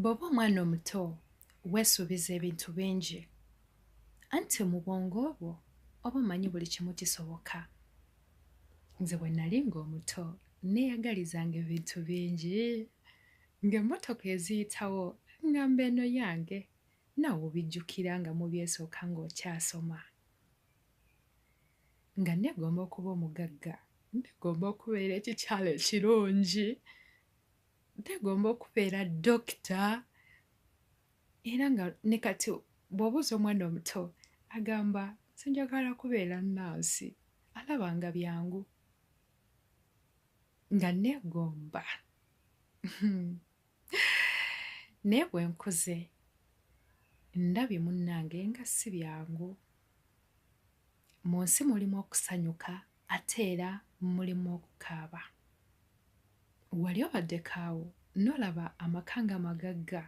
bw'oba omwana omuto weesuubiza ebintu bingi anti mu bwongo obwo oba omanyi buli kimu kisoboka nze bwe nali ng'omuto neeyagalizanga ebintu bingi ng'emmotoka eziyitawo ngamba eno yange nawe obijjukira nga mubyesooka ng'okyasoma nga negomba okuba omugagga negomba okubeera ekikyalo ekirungi begomba okubeera dokita era nga ne kati bw'obuuza omwana omuto agamba sinjagala kubeera nansi alaba nga byangu nga neegomba naye bwe nkuze ndabye munnange nga si byangu mu nsi mulimu okusanyuka ate era mulimu okukaaba wali obaddekaawo nolaba amaka nga magagga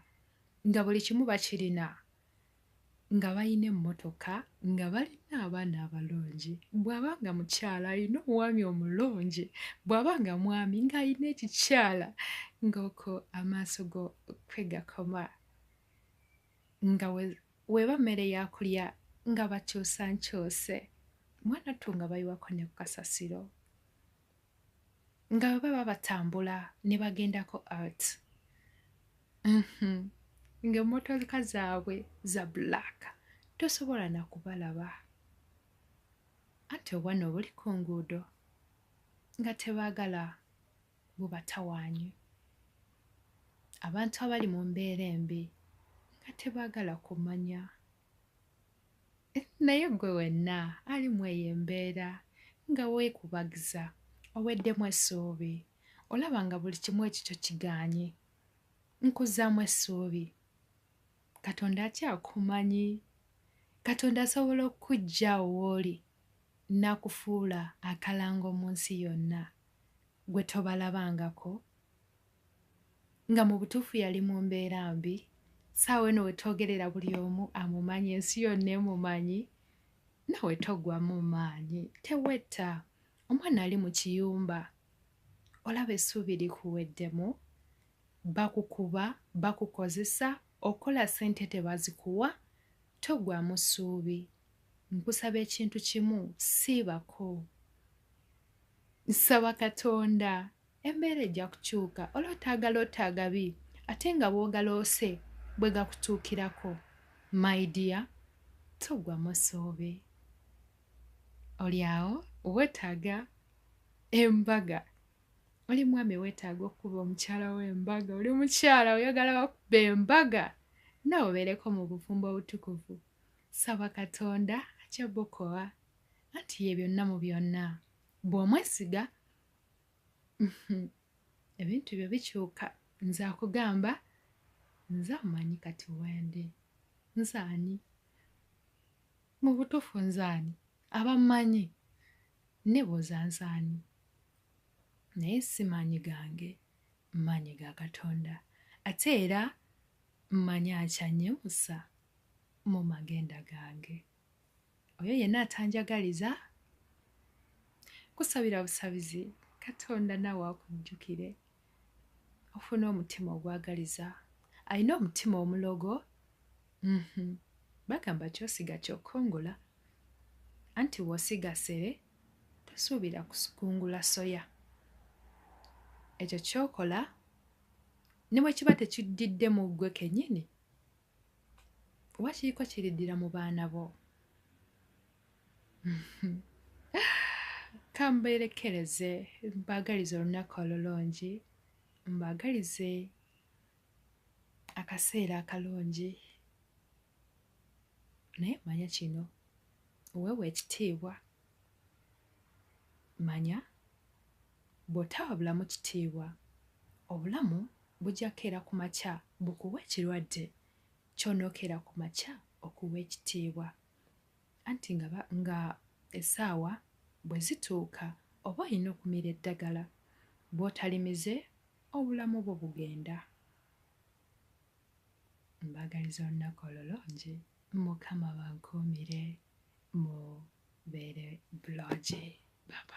nga buli kimu bakirina nga balina emmotoka nga balina abaana abalungi bw'aba nga mukyala alina omwami omulungi bw'aba nga mwami ng'alina ekikyala ng'oko amaaso go kwegakoma nga Weba mmere yakulya nga bakyusa nkyuse mwana ttu nga bayiwako ne ku kasasiro nga bwe baba batambula ne bagendako art mhm. ng'emmotoka zaabwe za black tosobola na kubalaba anti obwana obuli ku nguudo nga tebaagala bubatawaanye. Abantu abali mu mbeera embi nga tebaagala kumanya naye gwe wenna ali mu eyo embeera nga weekubagiza oweddemu essuubi olaba nga buli kimu ekikyo kigaanye nkuzzaamu essuubi katonda akyakumanyi katonda asobola okukujja owooli n'akufuula akalango mu nsi yonna gwe tobalabangako nga mu butuufu yali mu mbeera mbi saawa eno wetwogerera buli omu amumanyi ensi yonna emumanyi nawe togwamu maanyi tewetta omwana ali mu kiyumba olaba essuubi likuweddemu bakukuba bakukozesa okola sente tebazikuwa togwamu ssuubi nkusaba ekintu kimu siibako Nsaba Katonda embeera ejja kukyuka ola otaagala otta agabi ate nga bwogaloose bwe gakutuukirako my dear togwa musoobe oli awo wetaaga embaga oli mwami wetaaga okukuba omukyala wo embaga oli mukyala oyagala bakuba embaga nawe obeereko mu bufumbo obutukuvu saba katonda ajabukowa anti ye byonna mu byonna bw'omwesiga ebintu byo bikyuka nze akugamba nze amanyi kati wende nzaani mu butuufu nzaani abamanyi nebuuza nzaani naye si maanyi gange maanyi ga katonda ate era mmanyi akyanyimusa mu magenda gange oyo yenna atanjagaliza kusabira busabizi katonda naawe akujjukire ofuna omutima ogwagaliza alina omutima omulogo mhm. bagamba kyosiga kyokongola anti wosiga sere tosuubira kukungula soya ekyo kyokola ne bwe kiba tekiddidde mu ggwe kennyini oba kiriko kiriddira mu baana bo kambeerekereze mbaagaliza olunaku olulungi mbaagalize akaseera akalungi naye manya kino weewa ekitiibwa manya Bw'otawa bulamu kitiibwa, obulamu bujja kukeera ku makya bukuwe ekirwadde ky'onookeera ku makya okuwa ekitiibwa. Anti nga ba, nga essaawa bwe zituuka oba olina okumira eddagala. Bw'otalimize, obulamu bwo bugenda. Mbaagaliza olunaku olulungi. Mukama abankuumire mubeere bulungi. Bye, bye.